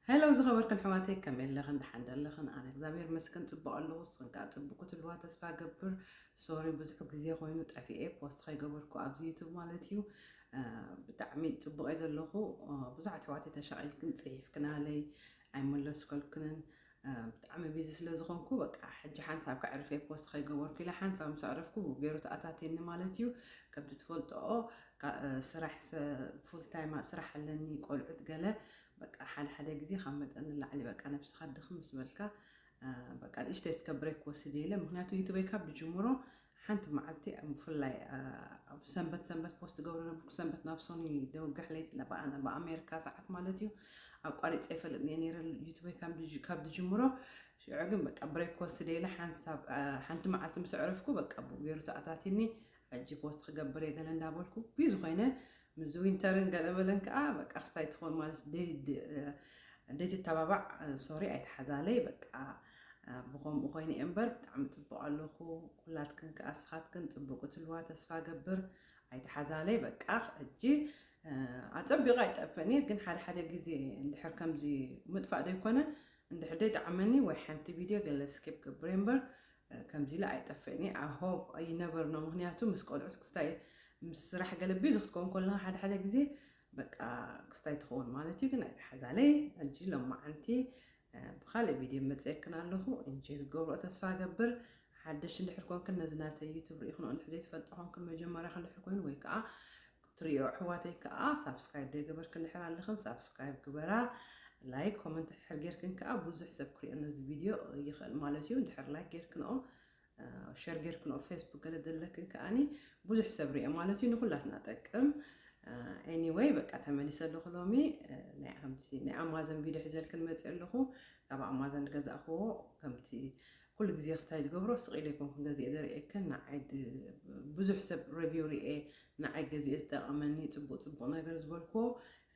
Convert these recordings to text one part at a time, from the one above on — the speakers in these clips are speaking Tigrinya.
Hello ዝኸበርክን ኣሕዋተይ ከመይ ኣለኽን ደሓን ዶ ኣለኽን ኣነ እግዚኣብሔር ይመስገን ጽቡቕ ኣለኹ ንስኽን ከኣ ጽቡቕ ክትህልዋ ተስፋ እገብር ሶሪ ብዙሕ ግዜ ኮይኑ ጠፊኤ ፖስት ከይገበርኩ ኣብዚ ዩቱብ ማለት እዩ ብጣዕሚ ጽቡቕ እየ ዘለኹ ብዙሓት ኣሕዋተይ ተሻቒልክን ጽሒፍክናለይ ኣይመለስከልክንን ብጣዕሚ ቢዚ ስለ ዝኾንኩ በቃ ሕጂ ሓንሳብ ከዕርፍ እየ ፖስት ከይገበርኩ ኢለ ሓንሳብ ምስ ኣዕረፍኩ ገይሩ ተኣታትየኒ ማለት እዩ ከምቲ ትፈልጥኦ ስራሕ ፉል ታይም ስራሕ ኣለኒ ቆልዑት ገለ በቃ ሓደ ሓደ ግዜ ካብ መጠን ንላዕሊ በቃ ነብስኻ ድኽም ምስ በልካ በቃ ንእሽተይ እስከ ብሬክ ወስድ ኢለ ምክንያቱ ዩቱበይ ካብ ብጅምሮ ሓንቲ መዓልቲ ብፍላይ ኣብ ሰንበት ሰንበት ፖስት ትገብሮ ነበርኩ ሰንበት ናብ ሶኒ ደውጋሕ ለይቲ ለበኣና ብኣሜሪካ ሰዓት ማለት እዩ ኣቋሪፀ ይፈልጥ እየ ነይረ ዩቱበይ ካብ ድጅምሮ ሽዑ ግን በቃ ብሬክ ወስደ ኢለ ሓንሳብ ሓንቲ መዓልቲ ምስ ዕረፍኩ በቃ ብገይሩ ተኣታትኒ ሕጂ ፖስት ክገብር እየ ገለ እንዳበልኩ ብዩ ዝኾይነ ምስ ዊንተርን ገለ በለን ከኣ በቃ ክስታይ ትኮን ማለት ደይ ትተባባዕ ሶሪ ኣይትሓዛለይ በቃ ብከምኡ ኮይነ እየ እምበር ብጣዕሚ ጽቡቅ ኣለኩ ኩላትክን ከኣ ንስካትክን ጽቡቅ ክትልዋ ተስፋ ገብር ኣይትሓዛለይ በቃ ሕጂ ኣጸቢቀ ኣይጠፍእን እየ ግን ሓደ ሓደ ግዜ እንድሕር ከምዚ ምጥፋእ ዘይኮነ እንድሕር ደይ ጠዓመኒ ወይ ሓንቲ ቪድዮ ገለ ስኪፕ ገብረ እምበር ከምዚ ኢለ ኣይጠፍእን እየ i hope ኣይነበርኖ ምክንያቱ ምስ ቆልዑት ክስታይ ምስ ስራሕ ገለ ቢዚ ክትከውን ኮለካ ሓደ ሓደ ግዜ በቃ ክስታይ ትከውን ማለት እዩ ግን ኣይተሓዛለይ ሕጂ ሎማዓንቲ ብካልእ ቪድዮ መፅየክን ኣለኩ እንጆይ ክትገብሮ ተስፋ ገብር ሓደሽ እንድሕር ኮንክን ነዚ ናተይ ዩቱብ ርኢክንኦ እንድሕር ዘይትፈልጦ ኮንክን መጀመርያክ እንድሕር ኮይኑ ወይ ከዓ ትሪኦ ኣሕዋተይ ከኣ ሳብስክራይብ ደይገበርክንሕር ኣለኽን ሳብስክራይብ ግበራ ላይክ ኮመንት ሕር ጌርክን ከኣ ብዙሕ ሰብ ክሪኦ ነዚ ቪድዮ ይኽእል ማለት እዩ ድሕር ላይክ ጌርክንኦ ሸር ጌርክንኦ ፌስቡክ ገለ ደለክን ከኣኒ ብዙሕ ሰብ ሪኦ ማለት እዩ ንኹላትና ጠቅም ኤኒወይ በቃ ተመሊሰ ኣለኹ ሎሚ ናይ ከምቲ ናይ ኣማዘን ቪድዮ ሒዘልክን መፅእ ኣለኹ ካብ ኣማዘን ገዛእኽዎ ከምቲ ኩሉ ግዜ ክስታይ ዝገብሮ ስቅ ኢለ ኣይኮንኩን ገዚኤ ዘርእየክን ንዓይ ብዙሕ ሰብ ረቪው ሪኤ ንዓይ ገዚኤ ዝጠቀመኒ ጽቡቅ ጽቡቅ ነገር ዝበልክዎ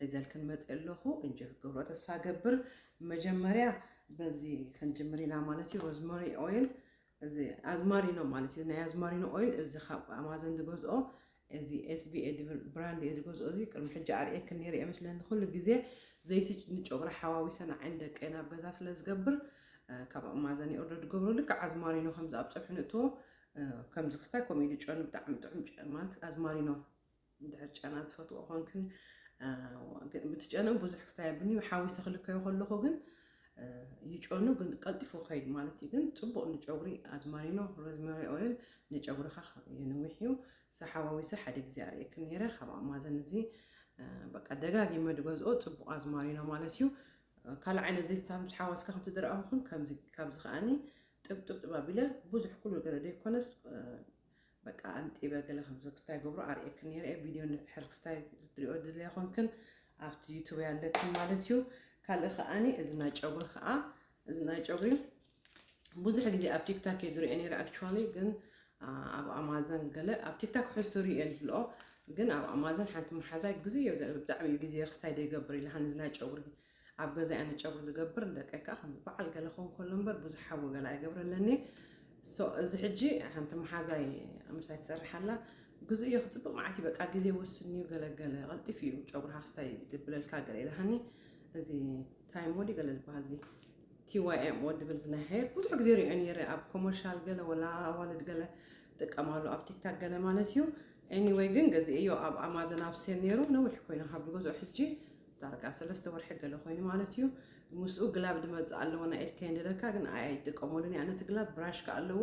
ሒዘልክን መጽኤ ኣለኹ እንጆይ ክትገብሮ ተስፋ ገብር መጀመርያ በዚ ክንጅምር ኢና ማለት እዩ ሮዝመሪ ኦይል እዚ ኣዝማሪኖ ማለት እዩ ናይ ኣዝማሪኖ ኦይል እዚ ካብ ኣማዞን ዝገዝኦ እዚ SBA ድብል ብራንድ እየ ዝገዝኦ እዚ ቅድሚ ሕጂ ኣርእየክን ኔረ እየ መስለኒ ኩሉ ግዜ ዘይቲ ንጨጉሪ ሓዋዊሰ ንዓይን ደቀይን ኣብ ገዛ ስለ ዝገብር ካብ ኣማዘን ይኦርደር ዝገብሮ ልክዕ ኣዝማሪኖ ከምዚ ኣብ ፀብሒ ንእትዎ ከምዚ ክስታይ ከምኡ ኢሉ ጨኑ ብጣዕሚ ጥዑም ማለት ኣዝማሪኖ እንድሕር ጨና ዝፈትዎ ኮንክን ብቲ ጨኑ ብዙሕ ክስታይ ኣብኒ ሓዊሰ ክልከዮ ከለኹ ግን ይጨኑ ግን ቀልጢፉ ክኸይድ ማለት እዩ ግን ፅቡቅ ንጨጉሪ ኣዝማሪኖ ሮዝመሪ ኦይል ንጨጉርኻ የንዊሕ እዩ ሰሓዋዊሰ ሓደ ግዜ ኣርእየክን ነይረ ካብ ኣማዘን እዚ በቃ ደጋጊመ ድገዝኦ ፅቡቅ ኣዝማሪኖ ማለት እዩ ካልእ ዓይነት ዘይትታት ምስ ሓወስካ ከምቲ ድረኣኹን ካብዚ ከዓኒ ጥብጥብጥብ ኣቢለ ብዙሕ ኩሉ ገለ ዘይኮነስ በቃ ኣንጢበ ገለ ከም ዘክስታይ ገብሮ ኣርእየክን ነይረ እየ ቪድዮ ንድሕር ክስታይ ክትሪኦ ድልያ ኮንክን ኣብቲ ዩቱብ ኣለክን ማለት እዩ ካልእ ከዓኒ እዚ ናይ ጨጉሪ ከዓ እዚ ናይ ጨጉሪ ብዙሕ ግዜ ኣብ ቲክታክ እየ ዝሪኦ ነይረ ኣክቹዋሊ ግን ኣብ ኣማዘን ገለ ኣብ ቲክታክ ሕሱ ሪኦ ይፍልኦ ግን ኣብ ኣማዘን ሓንቲ መሓዛይ ግዜ ብጣዕሚ እዩ ግዜ ክስታይ ደይገብር ኢላሃኒ ናይ ጨጉሪ ኣብ ገዛይ ኣነ ጨጉሪ ዝገብር ንደቀይ ከኣ ከም በዓል ገለ ክኸውን ከሎ እምበር ብዙሕ ሓዊ ገለ ኣይገብረለን'የ so እዚ ሕጂ ሓንቲ መሓዛይ ምሳይ ትሰርሕ ኣላ ግዝኡ እዩ ክጽብቕ መዓት እዩ በቃ ግዜ ወስንዩ ገለ ገለ ቀልጢፉ እዩ ጨጉርካ ክስታይ ድብለልካ ገለ ኢላሃኒ እዚ ታይም ወዲ ገለ ዝበሃል እዚ ቲዋይኤም ወዲ ብል ዝናይ ሃየር ብዙሕ ግዜ ሪኦ ነይረ ኣብ ኮመርሻል ገለ ወላ ኣዋልድ ገለ ጥቀማሉ ኣብ ቲክታክ ገለ ማለት እዩ ኤኒወይ ግን ገዚእዮ ኣብ ኣማዞን ኣብ ሴል ነይሩ ነዊሕ ኮይኑ ካብ ዝገዝኦ ሕጂ ዳርጋ ሰለስተ ወርሒ ገለ ኮይኑ ማለት እዩ ምስኡ ግላብ ድመጽእ ኣለዎ ናይ ኢድ ከይንድለካ ግን ኣይ ኣይጥቀመሉን እያ ነቲ ግላብ ብራሽ ከዓ ኣለዎ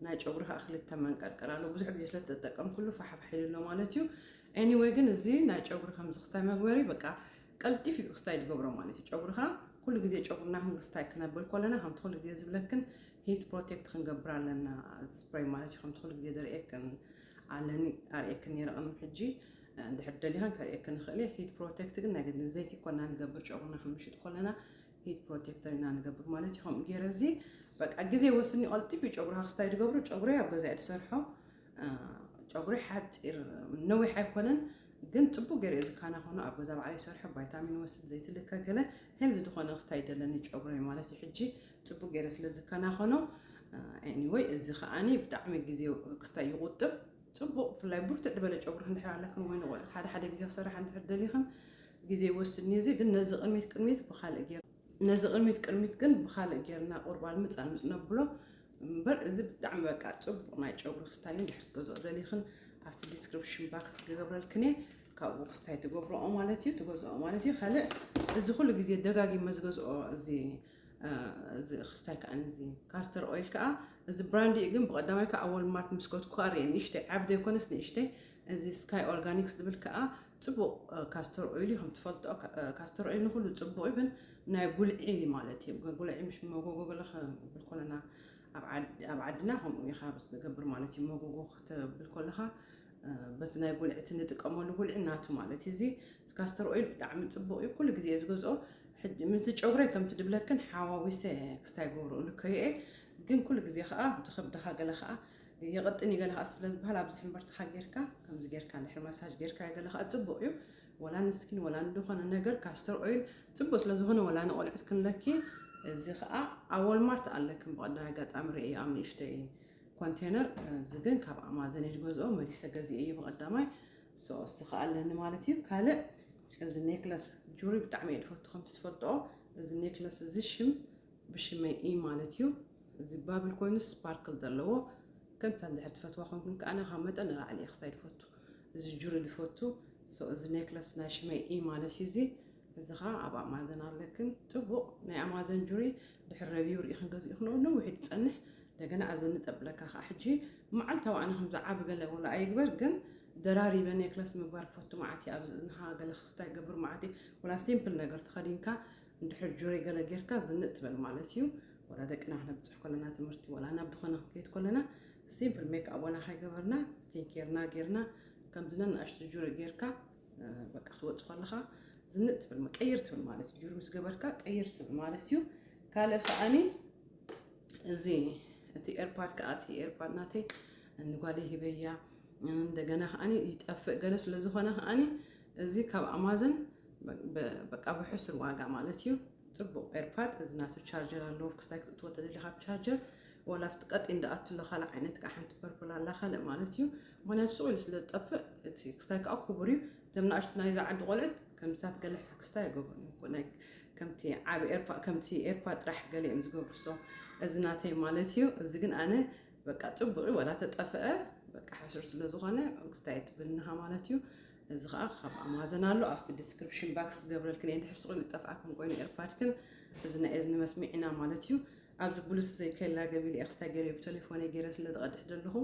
ናይ ጨጉሪ ከዓ ክልተ መንቀርቀር ኣለዎ ብዙሕ ግዜ ስለ ተጠቀምኩሉ ፋሕፋሕ ኢሉ ኣሎ ማለት እዩ ኤኒወይ ግን እዚ ናይ ጨጉሪ ከምዚ ክስታይ መግበሪ በቃ ቀልጢፍ እዩ ክስታይ ዝገብሮ ማለት እዩ ጨጉርካ ኩሉ ግዜ ጨጉርና ክንክስታይ ክነብል ኮለና ከምቲ ኩሉ ግዜ ዝብለክን ሂት ፕሮቴክት ክንገብር ኣለና ስፕሬይ ማለት እዩ ከምቲ ኩሉ ግዜ ደርእየክን ኣለኒ ኣርእየክን ነይረ ቅድሚ ሕጂ እንድሕር ደሊኻን ከርእየኪ ንኽእል እየ ሂት ፕሮቴክት ግን ናይ ግድን ዘይቲ ይኮና ንገብር ጨጉርና ክንምሽጥ ኮለና ሂት ፕሮቴክተር ኢና ንገብር ማለት እዩ ከምኡ ገይረ እዚ በቃ ግዜ ወስኒ ቀልጢፍ እዩ ጨጉርካ ክስታይ ዝገብሮ ጨጉሪ ኣብ ገዛ እየ ዝሰርሖ ጨጉሪ ሓፂር ነዊሕ ኣይኮነን ግን ፅቡቅ ገይረ ዝካና ኮኑ ኣብ ገዛ በዓል ይሰርሖ ቫይታሚን ወስድ ዘይቲ ልከ ገለ ሄልዚ ዝኾነ ክስታይ ደለኒ ጨጉሪ ማለት እዩ ሕጂ ፅቡቅ ገይረ ስለ ዝካና ኮኖ ኤኒወይ እዚ ከዓኒ ብጣዕሚ ግዜ ክስታይ ይቁጥብ ጽቡቕ ብፍላይ ብርትዕ ድበለ ጨጉሪ እንድሕር ኣለክን ወይ ንቆልዑት ሓደ ሓደ ግዜ ክሰርሓ እንድሕር ደሊክን ግዜ ይወስድ ኒዚ ግን ነዚ ቅድሚት ቅድሚት ብካልእ ጌር ነዚ ቅድሚት ቅድሚት ግን ብካልእ ጌርና ቁርባል ምጽ ኣልምጽ ነብሎ እምበር እዚ ብጣዕሚ በቃ ጽቡቕ ናይ ጨጉሪ ክስታይ እንድሕር ትገዝኦ ደሊክን ኣብቲ ዲስክሪፕሽን ባክስ ክገብረልክን እየ ካብኡ ክስታይ ትገብርኦ ማለት እዩ ትገዝኦ ማለት እዩ ካልእ እዚ ኩሉ ግዜ ደጋጊመ ዝገዝኦ እዚ እዚ ክስታይ ከዓ እዚ ካስተር ኦይል ከዓ እዚ ብራንድ እዩ ግን ብቀዳማይ ከዓ ወልማርት ምስ ከትኩ ከዓ ርኤ ንእሽተይ ዓብ ዘይኮነስ ንእሽተይ እዚ ስካይ ኦርጋኒክስ ዝብል ከዓ ፅቡቅ ካስተር ኦይል እዩ ከምትፈልጦ ካስተር ኦይል ንኩሉ ፅቡቅ እዩ ግን ናይ ጉልዒ ማለት እዩ ጉልዒ ምሽ መጎጎ ገለ ክብል ኮለና ኣብ ዓድና ከምኡ ኢኻ ዝገብር ማለት እዩ መጎጎ ክትብል ከለኻ በቲ ናይ ጉልዒ እቲ ንጥቀመሉ ጉልዒ ናቱ ማለት እዩ እዚ ካስተር ኦይል ብጣዕሚ ፅቡቅ እዩ ኩሉ ግዜ ዝገዝኦ ሕጂ ምስዚ ጨጉረይ ከምቲ ድብለክን ሓዋዊሰ ክስታይ ይገብሮ እልከዮ'የ ግን ኩሉ ግዜ ከኣ ድከብድካ ገለ ከኣ የቕጥን እዩ ገለ ከኣ ስለ ዝበሃል ኣብዚ ሕምብርትኻ ጌርካ ከምዚ ጌርካ ድሕሪ ማሳጅ ጌርካዮ ገለ ከኣ ጽቡቕ እዩ ወላ ንስኪን ወላ ንድኾነ ነገር ካስተር ኦይል ጽቡቕ ስለ ዝኾነ ወላ ንቆልዑት ክንለኪ እዚ ከኣ ኣብ ወልማርት ኣለክን ብቐዳም ኣጋጣሚ ርእየ ኣብ ንእሽተይ ኮንቴነር እዚ ግን ካብ ኣማዘን እዩ ዝገዝኦ መሊሰ ገዚኤ እዩ ብቐዳማይ ሰወስቲ ከኣ ኣለኒ ማለት እዩ ካልእ እዚ ኔክለስ ጁሪ ብጣዕሚ እየ ድፈቱ ከምቲ ትፈልጦ እዚ ኔክለስ እዚ ሽም ብሽመይ እዩ ማለት እዩ እዚ ባብል ኮይኑ ስፓርክል ዘለዎ ከምታ እንድሕር ትፈትዋ ኮንኩን ከዓ ናኻ መጠን ንላዕሊ እየ ክስታይ ድፈቱ እዚ ጁሪ ድፈቱ እዚ ኔክለስ ናይ ሽመይ እዩ ማለት እዩ እዚ እዚ ከዓ ኣብ ኣማዘን ኣለክን ፅቡቅ ናይ ኣማዘን ጁሪ ድሕር ረቪው ርኢክን ገዚእክንኦ ነዊሕ ድፀንሕ እንደገና ኣዚ ንጠብለካ ከኣ ሕጂ መዓልታዊ ኣነ ከምዚ ዓቢ ገለ ወላ ኣይግበር ግን ደራሪበ ኔክለስ ምግባር ክፈቱ መዓት እየ ኣብዚ እዝንኻ ገለ ክስታ ይገብር መዓት እየ ወላ ሲምፕል ነገር ተኸዲንካ እንድሕር ጁሪ ገለ ጌርካ ዝንእ ትበል ማለት እዩ ወላ ደቅና ክነብፅሕ ከለና ትምህርቲ ወላ ናብ ድኾነ ክንከይድ ከለና ሲምፕል ሜክኣብ ወላ ከይገበርና ስኪን ኬርና ጌርና ከምዚ ነናእሽቱ ጁሪ ጌርካ በቃ ክትወፅ ከለኻ ዝንእ ትብል ቀይር ትብል ማለት እዩ ጁሪ ምስ ገበርካ ቀይር ትብል ማለት እዩ ካልእ ከዓኒ እዚ እቲ ኤርፓድ ከዓ እቲ ኤርፓድ ናተይ ንጓለይ ሂበያ እንደገና ከዓ ይጠፍእ ገለ ስለ ዝኾነ ከዓ እዚ ካብ ኣማዘን በቃ ብሕሱር ዋጋ ማለት እዩ ፅቡቅ ኤርፓድ እዚ ናቱ ቻርጀር ኣለዎ ክስታይ ክትእትዎ ተደሊ ካብ ቻርጀር ዋላ ኣብቲ ቀጢ እንዳኣቱ ኣሎ ካልእ ዓይነት ከዓ ሓንቲ ፐርፕል ኣላ ካልእ ማለት እዩ ምክንያቱ ስቁኢሉ ስለ ዝጠፍእ እቲ ክስታይ ከዓ ክቡር እዩ እቶም ናእሽቱ ናይዛ ዓዲ ቆልዑት ከምዚታት ገለ ሕክስታ ኣይገብሩን እዮም እኮ ናይ ከምቲ ዓቢ ኤርፓ ከምቲ ኤርፓ ጥራሕ ገለ እዮም ዝገብሩ ሶ እዚ ናተይ ማለት እዩ እዚ ግን ኣነ በቃ ጽቡቅ ወላ ተጠፈአ በቃ ሕሱር ስለ ዝኾነ ክስታይ ትብልናሃ ማለት እዩ እዚ ከዓ ካብ ኣማዘን ኣሎ ኣብቲ ዲስክሪፕሽን ባክስ ገብረልክን እየ ድሕር ስቑን ዝጠፍኣኩም ኮይኑ ኤርፓድክን እዚ ናይ እዝኒ መስሚዕና ማለት እዩ ኣብዚ ብሉቱዝ ዘይከላ ገቢለ ኤክስታይ ገሬ ብተሌፎነይ ገይረ ስለ ዝቀድሕ ዘለኹ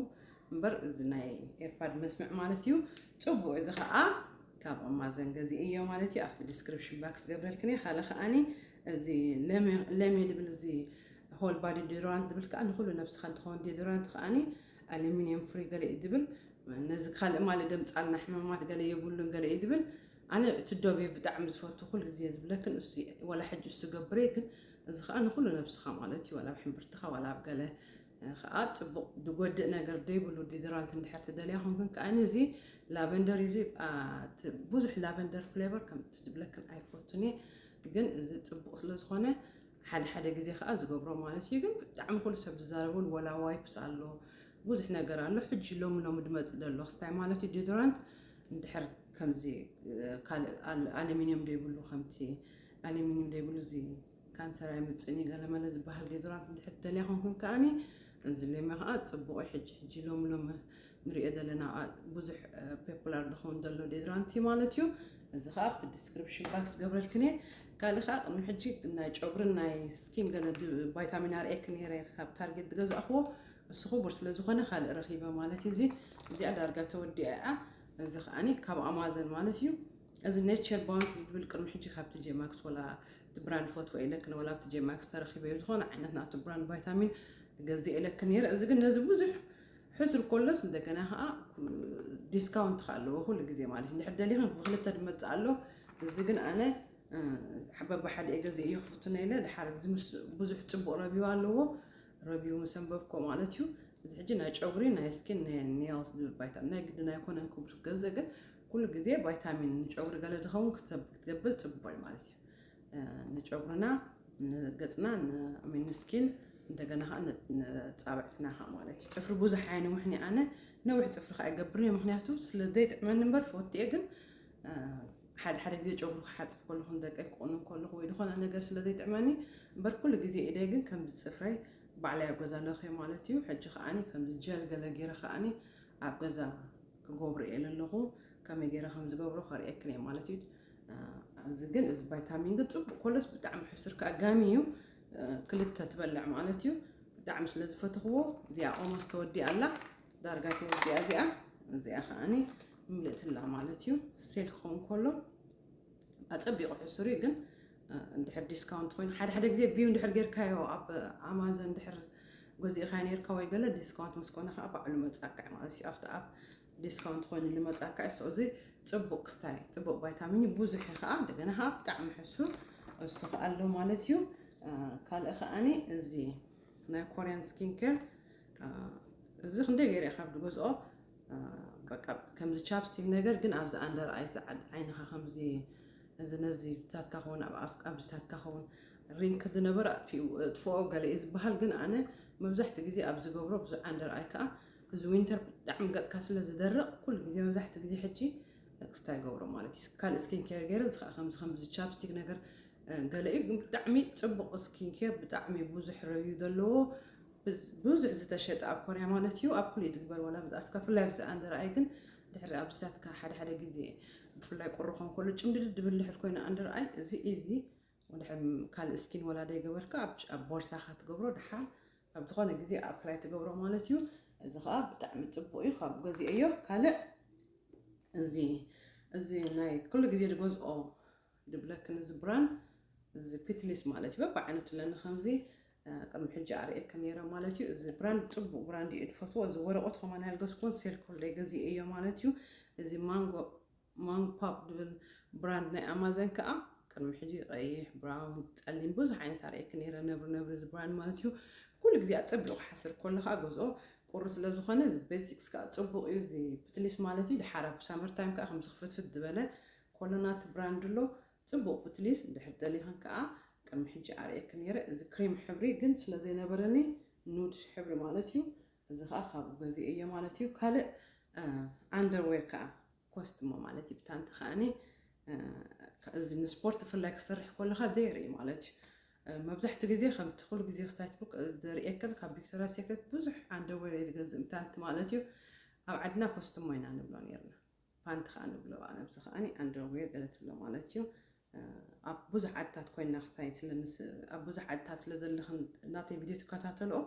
እምበር እዚ ናይ ኤርፓድ መስምዕ ማለት እዩ ጽቡቅ እዚ ከዓ ካብ ኣማዘን ገዚእዮ ማለት እዩ ኣብቲ ዲስክሪፕሽን ባክስ ገብረልክን እየ ካልእ ከዓኒ እዚ ለሜ ዝብል እዚ ሆል ባዲ ዲዶራንት ዝብል ከዓ ንኩሉ ነብስካ እንትኸውን ዲዶራንት ከዓኒ ኣሉሚኒየም ፍሪ ገለ እዩ ዝብል ነዚ ካልእ ማለት ደምፃልና ሕማማት ገለ የብሉን ገለ እዩ ዝብል ኣነ እቲ ዶቤ ብጣዕሚ ዝፈቱ ኩሉ ግዜ ዝብለክን እሱ ወላ ሕጂ እሱ ገብረ ግን እዚ ከኣ ንኹሉ ነብስኻ ማለት እዩ ዋላ ኣብ ሕምብርትኻ ዋላ ኣብ ገለ ከኣ ጽቡቕ ድጎድእ ነገር ደይብሉ ዲድራንት እንድሕር ትደልያ ኮንክን ከኣ እዚ ላቨንደር እዚ ብዙሕ ላቨንደር ፍሌቨር ከም ትድብለክን ኣይፈቱን እየ ግን እዚ ጽቡቕ ስለ ዝኾነ ሓደ ሓደ ግዜ ከዓ ዝገብሮ ማለት እዩ ግን ብጣዕሚ ኩሉ ሰብ ዝዛረበሉ ወላ ዋይፕስ ኣሎ ብዙሕ ነገር ኣሎ ሕጂ ሎሚ ሎሚ ድመፅ ደሎ ክስታይ ማለት እዩ ዲዶራንት እንድሕር ከምዚ ካልእ ኣሉሚኒየም ዘይብሉ ከምቲ ኣሊሚንዩም ዘይብሉ እዚ ካንሰር ኣይምጽእን እዩ ገለመለ ዝበሃል ዴዶራንት እንድሕር ትደልያ ኮንክን ከኣኒ እዚ ሌማ ከኣ ጽቡቕ እዩ ሕጂ ሕጂ ሎሚ ሎሚ ንሪኦ ዘለና ብዙሕ ፖፑላር ዝኸውን ዘሎ ዴዶራንት እዩ ማለት እዩ እዚ ከኣ ኣብቲ ዲስክሪፕሽን ባክስ ገብረልክን እየ ካልእ ከኣ ቅድሚ ሕጂ ናይ ጨጉርን ናይ ስኪን ገለ ቫይታሚን ኣር ኤክ ነይረ ካብ ታርጌት ዝገዛእኽዎ እሱ ክቡር ስለ ዝኾነ ካልእ ረኺበ ማለት እዩ እዚ እዚኣ ዳርጋ ተወዲኣ እያ እዚ ከኣኒ ካብ ኣማዘን ማለት እዩ እዚ ኔቸር ቦንድ ዝብል ቅድሚ ሕጂ ካብቲ ጄማክስ ወላ እቲ ብራንድ ፈትወ ኢለክን ወላ ኣብቲ ጄማክስ ተረኪበ ዝኾነ ዓይነት ናቱ ብራንድ ቫይታሚን ገዚኤ ኢለክን ነይረ እዚ ግን ነዚ ብዙሕ ሕስር ኮሎስ እንደገና ከዓ ዲስካውንት ከዓ ኣለዎ ኩሉ ግዜ ማለት እንድሕር ደሊኽን ብክልተ ድመፅእ ኣሎ እዚ ግን ኣነ ሓበባ ሓደ እየ ገዜ እየ ክፍትኖ ኢለ ድሓር እዚ ምስ ብዙሕ ፅቡቅ ረቢው ኣለዎ ረቢው ምስ ኣንበብኮ ማለት እዩ እዚ ሕጂ ናይ ጨጉሪ ናይ ስኪን ናይ ኔልስ ዝብል ባይታ ናይ ግድን ኣይኮነን ክብሉ ገዘ ግን ኩሉ ግዜ ቫይታሚን ንጨጉሪ ገለ ዝኸውን ክትገብር ፅቡቕ እዩ ማለት እዩ። ንጨጉርና፣ ንገፅና፣ ንስኪን እንደገና ከዓ ንፃብዕትና ከዓ ማለት እዩ። ፅፍሪ ብዙሕ ኣየንውሕን እየ ኣነ ነዊሕ ፅፍሪ ከዓ ይገብር እየ ምክንያቱ ስለ ዘይጥዕመኒ እምበር ፈቱ እየ ግን ሓደ ሓደ ግዜ ጨጉሪ ክሓፅብ ከለኹ ንደቀይ ክቑንን ከለኹ ወይ ዝኾነ ነገር ስለ ዘይጥዕመኒ እምበር ኩሉ ግዜ ኢደይ ግን ከምዚ ፅፍረይ ባዕላይ ኣብ ገዛ ኣለኸ ማለት እዩ ሕጂ ከዓኒ ከምዚ ጀል ገለ ገይረ ከዓኒ ኣብ ገዛ ክገብሮ እየ ለለኹ ከመይ ገይረ ከም ዝገብሮ ከርእየክን እየ ማለት እዩ እዚ ግን እዚ ቫይታሚን ግን ፅቡቅ ኮሎስ ብጣዕሚ ሕሱር ከዓ ጋሚ እዩ ክልተ ትበልዕ ማለት እዩ ብጣዕሚ ስለ ዝፈትኽዎ እዚኣ ኦሞስ ተወዲኣ ኣላ ዳርጋ ተወዲኣ እዚኣ እዚኣ ከዓኒ ምልእትላ ማለት እዩ ሴል ክኸውን ከሎ ኣፀቢቑ ሕሱር እዩ ግን እንድሕር ዲስካውንት ኮይኑ ሓደ ሓደ ግዜ ቪው እንድሕር ጌርካዮ ኣብ ኣማዘን እንድሕር ገዚእካ ነርካ ወይ ገለ ዲስካውንት ምስ ኮነ ከዓ ባዕሉ መፃካ እዩ ማለት እዩ ኣብቲ ኣብ ዲስካውንት ኮይኑ ንመፃካ እዩ ሰዚ ፅቡቅ ክስታይ ፅቡቅ ቫይታሚን እዩ ብዙሕ እዩ ከዓ እንደገና ከዓ ብጣዕሚ ሕሱ እሱ ከዓ ኣሎ ማለት እዩ ካልእ ከዓኒ እዚ ናይ ኮርያን ስኪን ኬር እዚ ክንደይ ገይረ ካብ ድገዝኦ በቃ ከምዚ ቻፕስቲክ ነገር ግን ኣብዚ ኣንደር ኣይ ዓይንኻ ከምዚ እዚ ነዚ ብታትካ ከውን ኣብ ኣፍ ኣብዚታትካ ከውን ሪንክ ዝነበረ ኣጥፊኡ እጥፍኦ ገለ እዩ ዝበሃል ግን ኣነ መብዛሕትኡ ግዜ ኣብ ዝገብሮ ብዙ ዓንደር ኣይ ከዓ እዚ ዊንተር ብጣዕሚ ገፅካ ስለ ዝደርቕ ኩሉ ግዜ መብዛሕትኡ ግዜ ሕጂ ክስታይ ይገብሮ ማለት እዩ ካልእ ስኪን ኬር ገይረ እዚ ከዓ ከምዚ ከምዚ ቻፕስቲክ ነገር ገለ እዩ ግን ብጣዕሚ ፅቡቕ ስኪን ኬር ብጣዕሚ ብዙሕ ረብዩ ዘለዎ ብዙሕ ዝተሸጠ ኣብ ኮርያ ማለት እዩ ኣብ ኩሉ እዩ ትግበር ዋላ ብዝኣፍካ ፍላይ ብዚ ኣንደርኣይ ግን ድሕሪ ኣብዚታትካ ሓደ ሓደ ግዜ ብፍላይ ቁሪ ክኸውን ከሎ ጭምድድድ ድብል ድሕር ኮይና ኣንድር ኣይ እዚ እዚ ወድሕር ካልእ ስኪን ወላ ደይገበርካ ኣብ ቦርሳኻ ትገብሮ ድሓር ኣብ ዝኾነ ግዜ ኣፕላይ ትገብሮ ማለት እዩ እዚ ከዓ ብጣዕሚ ፅቡቅ እዩ ካብ ገዚኦዮ ካልእ እዚ እዚ ናይ ኩሉ ግዜ ድገዝኦ ድብለኪ ነዚ ብራን እዚ ፒትሊስ ማለት እዩ በብዓይነቱ ለኒ ከምዚ ቅድሚ ሕጂ ኣርእየከ ነይረ ማለት እዩ እዚ ብራንድ ፅቡቅ ብራንድ እዩ ትፈትዎ እዚ ወረቆት ከማን ያልገዝኩዎን ሴልኮል ደይ ገዚኤ እዮ ማለት እዩ እዚ ማንጎ ማንጎ ፓፕ ድብል ብራንድ ናይ ኣማዘን ከዓ ቅድሚ ሕጂ ቀይሕ ብራውን ፀሊም ብዙሕ ዓይነት ኣርእየኪ ነይረ ነብሪ ነብሪ እዚ ብራንድ ማለት እዩ ኩሉ ግዜ ኣፀቢቑ ክሓስር ከሎ ከዓ ገዝኦ ቁሪ ስለ ዝኾነ እዚ ቤዚክስ ከዓ ፅቡቅ እዩ እዚ ፕትሊስ ማለት እዩ ድሓር ኣብ ሳመር ታይም ከዓ ከምዚ ክፍትፍት ዝበለ ኮሎናት ብራንድ ኣሎ ጽቡቅ ፕትሊስ እንድሕር ደሊኽን ከኣ ቅድሚ ሕጂ ኣርእየኪ ኔረ እዚ ክሬም ሕብሪ ግን ስለ ዘይነበረኒ ኑድ ሕብሪ ማለት እዩ እዚ ከኣ ካብኡ ገዚኤዮ ማለት እዩ ካልእ ኣንደርዌር ከኣ ኮስትሞ ማለት እዩ ብታንቲ ከኣኒ እዚ ንስፖርት ብፍላይ ክሰርሕ ከለካ ደይር እዩ ማለት እዩ መብዛሕትኡ ግዜ ከምቲ ኩሉ ግዜ ክስታይ ትብሉ ዘርእየክን ካብ ቪክቶሪያ ሴክሬት ብዙሕ ኣንደርዌር እየ ዝገዝእ ምታንቲ ማለት እዩ ኣብ ዓድና ኮስትሞ ኢና ንብሎ ነርና ፓንት ከኣ ንብሎ ኣነ ኣብዚ ከኣ ኣንደርዌር ገለ ትብሎ ማለት እዩ ኣብ ብዙሕ ዓድታት ኮይና ክስታይ ኣብ ብዙሕ ዓድታት ስለ ዘለኽን ናተይ ቪድዮ ትከታተልኦ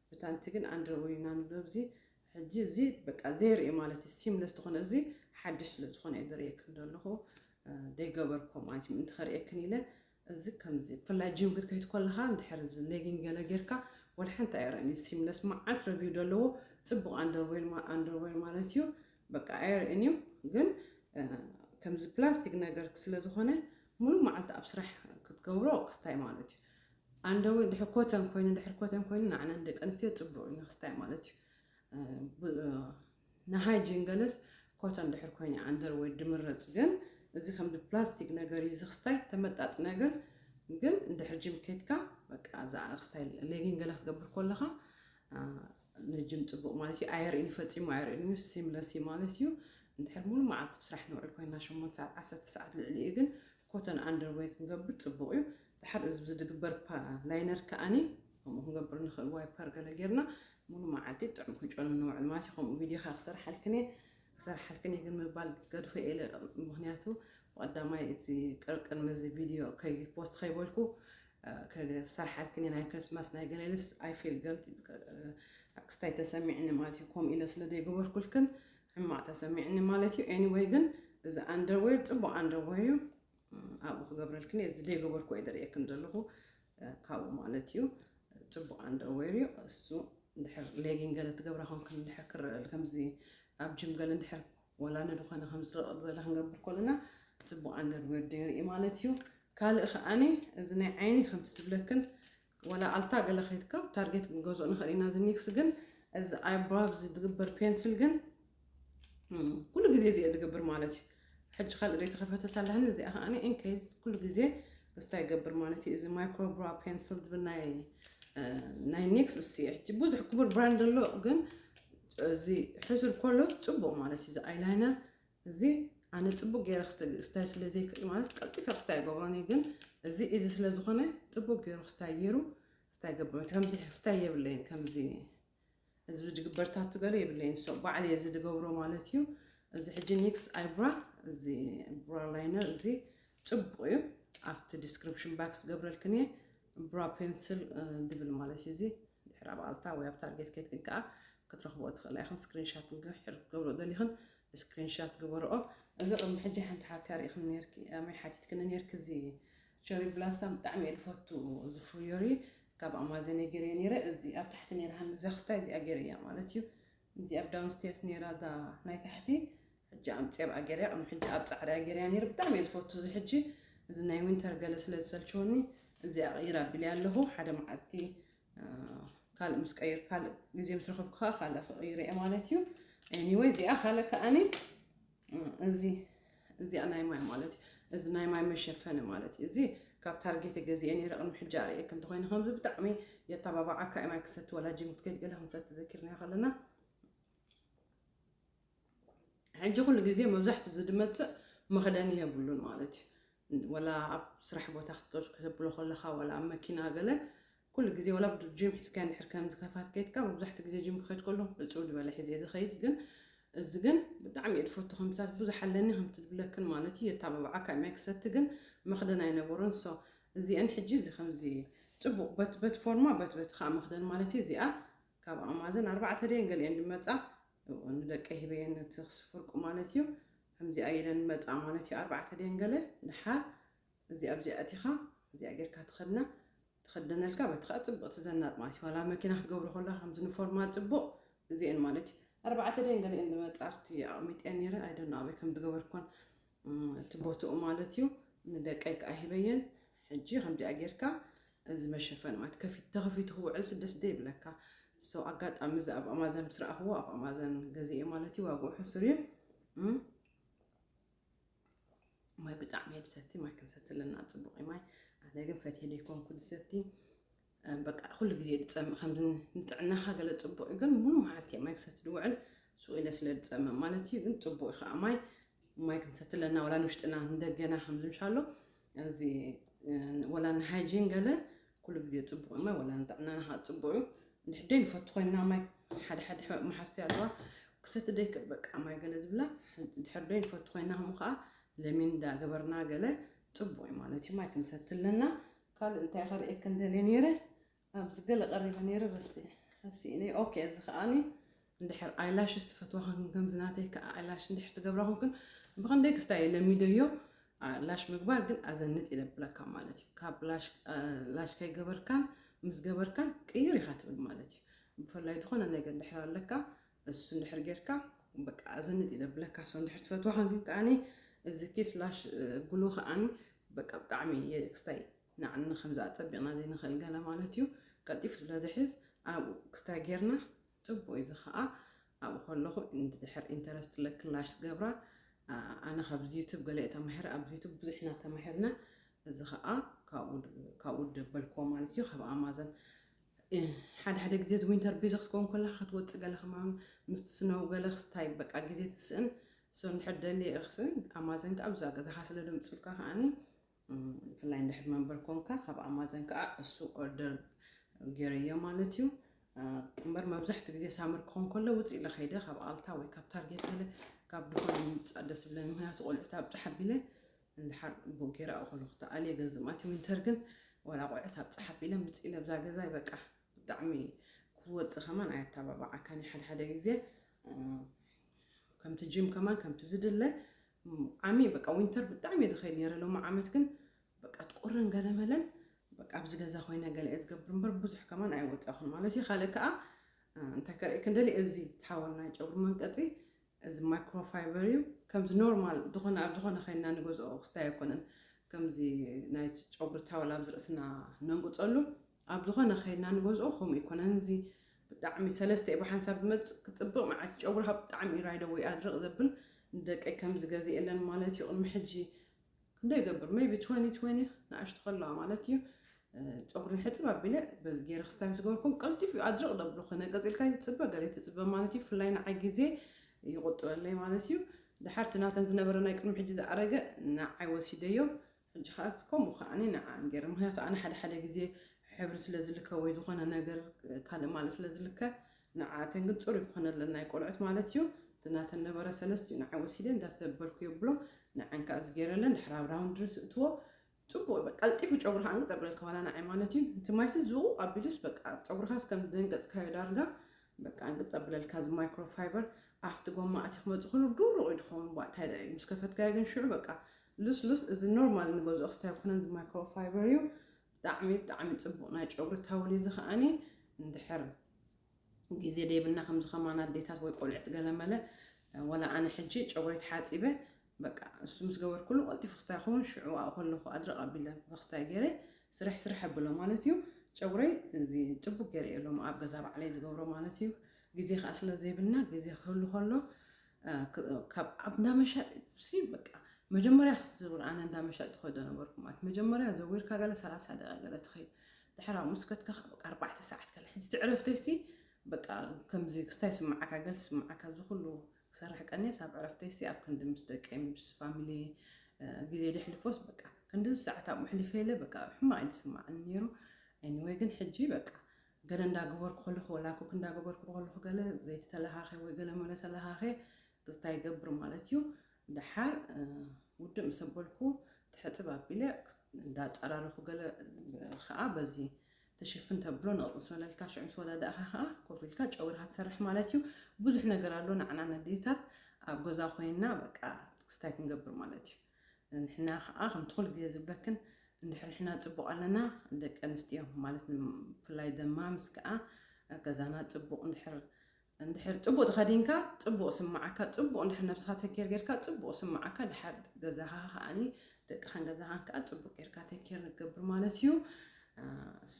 ብታንቲ ግን ኣንደርዌር ኢና ንብሎ ኣብዚ ሕጂ እዚ በቃ ዘይርኢ ማለት እዩ ሲምለስ ዝኾነ እዚ ሓድሽ ስለ ዝኾነ እዩ ዘርእየክን ዘለኹ ዘይገበርኮ ማለት እዩ ምእንቲ ከርእየክን ኢለ እዚ ከምዚ ብፍላይ ጂም ክትከይድ ኮለኻ እንድሕር እዚ ሌጊንግ ገለ ጌርካ ወላ ሓንቲ ኣይርኣን ሲምለስ መዓት ረቪው ደለዎ ጽቡቕ ኣንደርዌር ማ ኣንደርዌር ማለት እዩ በቃ ኣይርእን እዩ ግን ከምዚ ፕላስቲክ ነገር ስለ ዝኾነ ሙሉእ መዓልቲ ኣብ ስራሕ ክትገብሮ ክስታይ ማለት እዩ ኣንደርዌር ድሕር ኮተን ኮይኑ ድሕር ኮተን ኮይኑ ንዓና ንደቂ ኣንስትዮ ጽቡቕ እዩ ንክስታይ ማለት እዩ ንሃይ ጅንገለስ ኮታ እንድሕር ኮይነ ኣንደር ወይ ድምረጽ ግን እዚ ከምዚ ፕላስቲክ ነገር እዩ ዝክስታይ ተመጣጥነ ግን ግን እንድሕር ጅም ከትካ በቃ እዛ ክስታይ ሌጊን ገለ ክትገብር ኮለኻ ንጅም ጽቡቅ ማለት እዩ ኣየርእን ፈጺሙ ኣየርእን እዩ ሲምለስ እዩ ማለት እዩ እንድሕር ሙሉ መዓልቲ ብስራሕ ንውዕል ኮይና ሸሞንተ ሰዓት ዓሰርተ ሰዓት ልዕሊ እዩ ግን ኮተን ኣንደርወይ ክንገብር ጽቡቅ እዩ ድሓር እዚ ብዝድግበር ፓ ላይነር ከኣኒ ከምኡ ክንገብር ንኽእል ዋይፐር ገለ ጌርና ሙሉ መዓልቲ ጥዑም ክንጮ ንነውዕል ማለት እዩ ከምኡ ቪድዮኻ ክሰርሓልክን እየ ክሰርሓልክን እየ ግን ምባል ገድፎ የለ ምክንያቱ ብቀዳማይ እቲ ቅርቅን መዚ ቪድዮ ፖስት ከይበልኩ ክሰርሓልክን እየ ናይ ክርስማስ ናይ ገለልስ ኣይፌል ገልቲ ክስታይ ተሰሚዕኒ ማለት እዩ ከምኡ ኢለ ስለ ዘይገበርኩልክን ሕማቅ ተሰሚዕኒ ማለት እዩ ኤኒወይ ግን እዚ ኣንደርዌር ፅቡቅ ኣንደርዌር እዩ ኣብኡ ክገብረልክን እየ እዚ ዘይገበርኩ እየ ደርእየክን ዘለኹ ካብኡ ማለት እዩ ፅቡቅ ኣንደርዌር እዩ እሱ ድሕር ሌጊን ገለ ትገብራ ኮንክን ድሕር ክረል ከምዚ ኣብ ጅም ገለ ድሕር ወላ ንድኾነ ከምዝረቐ ዝበለ ክንገብር ኮለና ፅቡቅ ኣንደርዌር ደርኢ ማለት እዩ ካልእ ከዓኒ እዚ ናይ ዓይኒ ከምቲ ዝብለክን ዋላ ኣልታ ገለ ከይድካ ታርጌት ክንገዝኦ ንኽእል ኢና። እዚ ኒክስ ግን እዚ ኣይብራብ ዝግበር ፔንስል ግን ኩሉ ግዜ እዚኦ ዝገብር ማለት እዩ። ሕጂ ካልእ ደይ ተኸፈተት ኣለኒ እዚኣ ከዓኒ ኢንኬዝ ኩሉ ግዜ እስታ ይገብር ማለት እዩ። እዚ ማይክሮብራ ፔንስል ዝብል ናይ ናይ ኒክስ እሱ እዩ። ሕጂ ብዙሕ ክቡር ብራንድ ኣሎ ግን እዚ ሕሱር ኮሎ ጽቡቕ ማለት እዩ። እዚ ኣይላይነር እዚ ኣነ ጽቡቅ ገይረ ክስታይ ስለ ዘይክእል ማለት ቀልጢፈ ክስታይ ይገብሮን እየ ግን እዚ እዚ ስለ ዝኾነ ጽቡቅ ገይሩ ክስታይ ገይሩ ክስታይ ገብሮን ከምዚ ክስታይ የብለይን ከምዚ እዚ ዝግበርታቱ ገለ የብለይን ሶ ባዕል እዚ ዝገብሮ ማለት እዩ እዚ ሕጂ ኒክስ ኣይብራ እዚ ብራ ላይነር እዚ ጽቡቅ እዩ ኣብቲ ዲስክሪፕሽን ባክስ ገብረልክን እየ ብራ ፔንስል ድብል ማለት እዩ እዚ ድሕሪ ኣብ ኣልታ ወይ ኣብ ታርጌት ኬድክን ከኣ ክትረኽብኦ ትኽእላ ኢኽን ስክሪን ሻት እንግህ ሕር ክትገብርኦ ደሊኽን ስክሪን ሻት ግበርኦ። እዚ ቅድሚ ሕጂ ሓንቲ ሓብቲ ኣርኢኽኒ ኔርኪ ኣመይ ሓቲትክኒ ኔርኪ እዚ ቸሪ ብላሳም ብጣዕሚ እየ ድፈቱ እዚ ፍርዮሪ ካብ ኣማዘን እየ ጌረዮ ኔረ እዚ ኣብ ታሕቲ ኔራ ሃኒ እዛ ክስታይ እዚኣ ጌረያ ማለት እዩ እዚ ኣብ ዳውን ስቴርስ ኔራ እዛ ናይ ታሕቲ ሕጂ ኣምጽየብኣ ጌርያ ቅድሚ ሕጂ ኣብ ጻዕዳ ጌርያ ኔረ ብጣዕሚ እየ ዝፈቱ እዚ ሕጂ እዚ ናይ ዊንተር ገለ ስለ ዝሰልቸወኒ እዚኣ ቀይር ኣቢልያ ኣለኹ ሓደ መዓልቲ ካልእ ምስ ቀይር ካልእ ግዜ ምስ ረኸብኩ ከዓ ካልእ ክቕይር እየ ማለት እዩ ኤኒወይ እዚኣ ካልእ ከዓኒ እዚ እዚኣ ናይ ማይ ማለት እዩ እዚ ናይ ማይ መሸፈኒ ማለት እዩ እዚ ካብ ታርጌት ገዚአ ነረ ቅድሚ ሕጂ ኣርእየክ እንተኮይነ ከምዚ ብጣዕሚ የተባባዓካ እዩ ማይ ክሰቲ ወላ ጂም ክትከይድ ገለ ክንሰቲ ዘኪርናዮ ከለና ሕጂ ኩሉ ግዜ መብዛሕቱ ዝድመጽእ መኽደኒ የብሉን ማለት እዩ ወላ ኣብ ስራሕ ቦታ ክትገዙ ክትብሎ ከለኻ ወላ ኣብ መኪና ገለ ኩሉ ግዜ ወላ ጂም ሒዝካ እንድሕር ከምዚ ከፋት ከይድካ መብዛሕቲ ግዜ ጂም ክኸይድ ከሎ ብፅው ዝበለ ሒዘ ዝኸይድ ግን እዚ ግን ብጣዕሚ እየ ዝፈቱ ከምታት ብዙሕ ኣለኒ ከምቲ ዝብለክን ማለት እዩ የታባብዓካ ማይ ክሰቲ ግን መኽደን ኣይነበሮን ሶ እዚአን ሕጂ እዚ ከምዚ ፅቡቕ በትበት ፎርማ በትበት ከዓ መኽደን ማለት እዩ እዚኣ ካብ ኣማዘን ኣርባዕተ ደን ገሊአን ድመፃ እወ ንደቀይ ሂበየን ነቲ ክስብ ፍርቁ ማለት እዩ ከምዚኣ ኢለን መጻ ማለት እዩ ኣርባዕተ ድየን ገለ ድሓር እዚ ኣብዚ ኣእቲኻ እዚኣ ጌርካ ትኸድና ትኸደነልካ በቲ ከኣ ጽብቕቲ ዘናጥ ማለት እዩ ዋላ መኪና ክትገብሮ ከለካ ከምዚ ንፎርማ ጽቡቕ እዚኤን ማለት እዩ ኣርባዕተ ድየን ገለ እየን መጻርቲ ኣቕሚጠን ነይረ ኣይደኖ ኣበይ ከም ዝገበርኩን እቲ ቦትኡ ማለት እዩ ንደቀይ ከኣ ሂበየን ሕጂ ከምዚኣ ጌርካ እዚ መሸፈኒ ማለት ከፊት ተኸፊቱ ክውዕል ስደስ ደይ ብለካ ሰው ኣጋጣሚ እዚ ኣብ ኣማዘን ምስ ረኣኽዎ ኣብ ኣማዘን ገዚኤ ማለት እዩ ዋግኡ ሕሱር እዩ ማይ ብጣዕሚ እየ ዝሰቲ ማይ ክንሰቲ ኣለና ፅቡቅ እዩ ማይ ኣነ ግን ፈትየ ደይኮንኩ ዝሰቲ በቃ ኩሉ ግዜ ድፀምእ ከምዚ ንጥዕናኻ ገለ ፅቡቅ እዩ ግን ሙሉ መዓልቲ እየ ማይ ክሰቲ ድውዕል ስኡ ኢለ ስለ ድፀምእ ማለት እዩ ግን ፅቡቅ እዩ ከዓ ማይ ማይ ክንሰቲ ኣለና ወላ ንውሽጥና ንደገና ከምዚ እንሻሎ እዚ ወላ ንሃይጂን ገለ ኩሉ ግዜ ፅቡቅ እዩ ማይ ወላ ንጥዕናና ከዓ ፅቡቅ እዩ እንድሕደይ ንፈቱ ኮይና ማይ ሓደ ሓደ መሓዝቲ ኣለዋ ክሰቲ ደይክእል በቃ ማይ ገለ ዝብላ ድሕር ደይ ንፈቱ ኮይና ከምኡ ከዓ ለሚን እንዳገበርና ገለ ፅቡቅ እዩ ማለት እዩ ማይ ክንሰቲ ኣለና ካልእ እንታይ ከርእየክን ደልየ ኔረ ኣብዚ ገለ ቀሪበ ኔረ ረሲዐ ረሲእኒ ኦኬ እዚ ከኣኒ እንድሕር ኣይላሽስ ትፈትዋ ኮንክን ከምዚ ናተይ ከዓ ኣይላሽ እንድሕር ትገብራ ኮንክን ብከንደይ ክስታይ ለሚደዮ ላሽ ምግባር ግን ኣዘንጥ ይለብለካ ማለት እዩ ካብ ላሽ ከይገበርካን ምስ ገበርካን ቅይር ኢኻ ትብል ማለት እዩ ብፍላይ ዝኾነ ነገር ድሕር ኣለካ እሱ እንድሕር ጌርካ በቃ ኣዘንጥ እዩ ዘብለካ ሰው እንድሕር ትፈትዋኻን ግን ከዓኒ እዚ ኪስ ላሽ ግሉ ከዓኒ በቃ ብጣዕሚ ክስታይ ንዓኒ ከምዚ ኣፀቢቕና ዘይንኽእል ገለ ማለት እዩ ቀልጢፉ ስለ ዝሕዝ ኣብኡ ክስታይ ጌርና ፅቡቅ እዩ እዚ ከዓ ኣብኡ ከለኹ እንድሕር ኢንተረስት ለክን ላሽ ዝገብራ ኣነ ካብዚ ዩቱብ ገለ እየ ተማሂረ ኣብዚ ዩቱብ ብዙሕ ኢና ተማሂርና እዚ ከዓ ካብኡ ደበልክዎ ማለት እዩ ካብ ኣማዘን ሓደ ሓደ ግዜ እዚ ዊንተር ቢዚ ክትከውን ከለካ ክትወጽእ ገለ ከማን ምስቲ ስነው ገለ ክስታይ በቃ ግዜ ትስእን ሰው እንድሕር ደልየ እኽስን ኣማዘን ከዓ ብዛ ገዛኻ ስለ ደምፅልካ ከዓኒ ብፍላይ እንድሕር መንበር ኮንካ ካብ ኣማዘን ከዓ እሱ ኦርደር ገይረዮ ማለት እዩ እምበር መብዛሕትኡ ግዜ ሳመር ክኸውን ከሎ ውፅ ኢለ ከይደ ካብ ኣልታ ወይ ካብ ታርጌት ገለ ካብ ድኾነ ምምፃእ ደስ ብለኒ ምክንያቱ ቆልዑት ኣብ ፀሓ ቢለ እንድሓር ግቡእ ጌረ ኣብኡ ከለኹ ተኣልየ ገዝእ ማቲ ዊንተር ግን ዋላ ኣቑዕት ኣብ ጸሓፍ ኢለ ምጽእ ኢለ ኣብዛ ገዛይ በቃ ብጣዕሚ ክትወጽእ ከማን ኣየታባብዓካን እዩ ሓድሓደ ግዜ ከምቲ ጂም ከማን ከምቲ ዝድለ ዓሚ በቃ ዊንተር ብጣዕሚ እየ ዝኸይድ ነይረ ሎሚ ዓመት ግን በቃ ትቁርን ገለመለን በቃ ኣብዚ ገዛ ኮይነ ገለ እየ ዝገብር እምበር ብዙሕ ከማን ኣይወጻኹን ማለት እዩ ካልእ ከዓ እንታይ ከርእየክን ደሊ እዚ ተሓወልና ጨጉሪ መንቀፂ እዚ ማይክሮ ፋይበር እዩ ከምዚ ኖርማል ዝኮነ ኣብ ዝኮነ ከይንና ንገዝኦ ክስታይ ኣይኮነን ከምዚ ናይ ጨጉሪ ታወል ኣብዚ ርእስና ነንቁጸሉ ኣብ ዝኮነ ከይንና ንገዝኦ ከምኡ ኣይኮነን እዚ ብጣዕሚ ሰለስተ እዩ ብሓንሳብ ዝመጽእ ክጽብቅ ንዓቲ ጨጉሪ ሃብ ብጣዕሚ እዩ ራይደ ወይ ኣድርቅ ዘብል ንደቀይ ከምዚ ገዚኤለን ማለት እዩ ቅድሚ ሕጂ ክንደይ ይገብር ሜይቢ ትወኒ ትወኒ ንኣሽቱ ከለዋ ማለት እዩ ፀጉሪ ሕፅብ ኣቢለ በዚ ገይረ ክስታይ ምስ ገበርኩም ቀልጢፉ እዩ ኣድርቕ ደብሉ ክነ ቀፂልካ ይትፅበ ገለ ይትፅበ ማለት እዩ ፍላይ ንዓይ ግዜ ይቑጥበለይ ማለት እዩ ድሓር እቲ ናተን ዝነበረ ናይ ቅድሚ ሕጂ ዝኣረገ ንዓይ ወሲደዮ ሕጂ ከዓ ከምኡ ከዓኒ ንዓን ገይረ ምክንያቱ ኣነ ሓደ ሓደ ግዜ ሕብሪ ስለ ዝልከ ወይ ዝኾነ ነገር ካልእ ማልእ ስለ ዝልከ ንዓኣተን ግን ጽሩይ ክኾነለን ናይ ቆልዑት ማለት እዩ እቲ ናተን ነበረ ሰለስት እዩ ንዓይ ወሲደ እንዳ ተበርኩ የብሎ ንዐን ከኣ እዚ ጌረለን ድሕር ኣብ ራውንድሪ ስእትዎ ጽቡቅ በቃ ቀልጢፉ ጨጉሪ ከኣ እንቅጸብረልካ ዋላ ንዓይ ማለት እዩ እቲ ማይሲ ዝውቅ ኣቢሉስ በቃ ጨጉርኻስ ከም ደንገጽካዮ ዳርጋ በቃ እንቅጽ ኣብለልካ እዚ ማይክሮ ፋይበር ኣብቲ ጎማ ኣቲ ክመጽእ ከሎ ዱሩቅ እዩ ድኸውን ቧእ እንታይ ደኣ እዩ ምስ ከፈትካዮ ግን ሽዑ በቃ ሉስሉስ እዚ ኖርማል ንገዝኦ ክስታይ ኣይኮነን እዚ ማይክሮ ፋይበር እዩ ብጣዕሚ ብጣዕሚ ጽቡቅ ናይ ጨጉሪ ታውል እዚ ከኣኒ እንድሕር ግዜ ደይብና ከምዚ ከማና ኣዴታት ወይ ቆልዕት ገለመለ ወላ ኣነ ሕጂ ጨጉረይ ተሓጺበ በቃ እሱ ምስ ገበርኩሉ ቀልጢፉ ክስታይ ይኸውን ሽዑ ኣብኡ ከለኹ ኣድረቕ ኣቢለ ብክስታይ ገይረ ስርሕ ስርሕ ኣብሎ ማለት እዩ ጨጉረይ እዚ ጽቡቅ ገይረ እየ ሎም ኣብ ገዛ ባዕለይ ዝገብሮ ማለት እዩ ግዜ ከዓ ስለ ዘይብልና ግዜ ክህሉ ከሎ ካብ ኣብ እንዳ መሻጢ በቃ መጀመርያ ክትዝውር ኣነ እንዳ መሻጢ ከዶ ነበርኩ ማለት መጀመርያ ዘዊርካ ገለ ሰላሳ ደቂቃ ገለ ትኸይድ ድሕር ኣብኡ ምስ ከድካ ከዓ በቃ ኣርባዕተ ሰዓት ከለ ሕጂ እቲ ዕረፍተይሲ በቃ ከምዚ ክስታይ ይስምዓካ ገለ ይስምዓካ እዚ ኩሉ ክሰርሕ ቀንየስ ኣብ ዕረፍተይሲ ኣብ ክንዲ ምስ ደቀይ ምስ ፋሚሊ ግዜ ደሕልፎስ በቃ ክንዲ ሰዓት ኣብኡ ኣሕሊፈ ኢለ በቃ ሕማቕ እዩ ዝስማዓኒ ነይሩ ኤኒወይ ግን ሕጂ በቃ ገለ እንዳገበርኩ ከለኹ ወላ ኩክ እንዳገበርኩ ከለኹ ገለ ዘይቲ ተለኻኺ ወይ ገለ መለ ተለኻኺ ክስታይ ይገብር ማለት እዩ ደሓር ውድእ ምስ ኣበልኩ ትሕፅብ ኣቢለ እንዳፀራረኹ ገለ ከዓ በዚ ትሽፍን ተብሎ ንቕፅ ስበለልካ ሽዑ ምስ ወዳዳእኻ ከዓ ኮፍ ኢልካ ጨውርካ ትሰርሕ ማለት እዩ ብዙሕ ነገር ኣሎ ንዓና ነዴታት ኣብ ገዛ ኮይና በቃ ክስታይ ክንገብር ማለት እዩ ንሕና ከኣ ከምቲ ኩሉ ግዜ ዝብለክን እንድሕር ንሕና ጽቡቅ ኣለና ደቂ ኣንስትዮ ማለት ብፍላይ ደማ ምስ ከኣ ገዛና ጽቡቅ እንድሕር እንድሕር ጽቡቅ ተኸዲንካ ጽቡቅ ስምዓካ ጽቡቅ እንድሕር ነብስኻ ተኬር ጌርካ ጽቡቅ ስምዓካ ድሓር ገዛኻ ከኣኒ ደቅኻን ገዛኻን ከኣ ጽቡቅ ጌርካ ተኬር ንገብር ማለት እዩ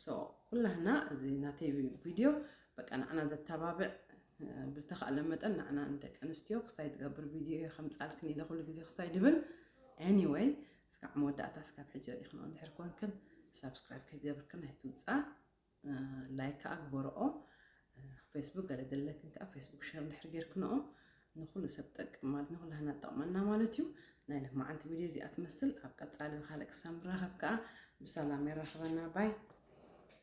ሶ ኩላህና እዚ ናተይ ቪድዮ በቃ ንዓና ዘተባብዕ ብዝተኻእለ መጠን ንዓና ንደቂ ኣንስትዮ ክስታይ ትገብር ቪድዮ እየ ከምፃልክን ኢለ ኩሉ ግዜ ክስታይ ድብል ኤኒወይ እስካዕ መወዳእታ ስካብ ሕጂ ርኢኽንኦ እንድሕር ኮንክን ሳብስክራይብ ከይገብርክን ኣይትውፃእ ላይክ ከዓ ግበርኦ ፌስቡክ ገለ ዘለክን ከዓ ፌስቡክ ሸር እንድሕር ጌርክንኦ ንኩሉ ሰብ ጠቅም ማለት ንኩሉ ሃና ጠቕመና ማለት እዩ ናይ ልማዓንቲ ቪድዮ እዚኣ ትመስል ኣብ ቀፃሊ ብካልእ ክሳብ ንራኸብ ከዓ ብሰላም የራኽበና ባይ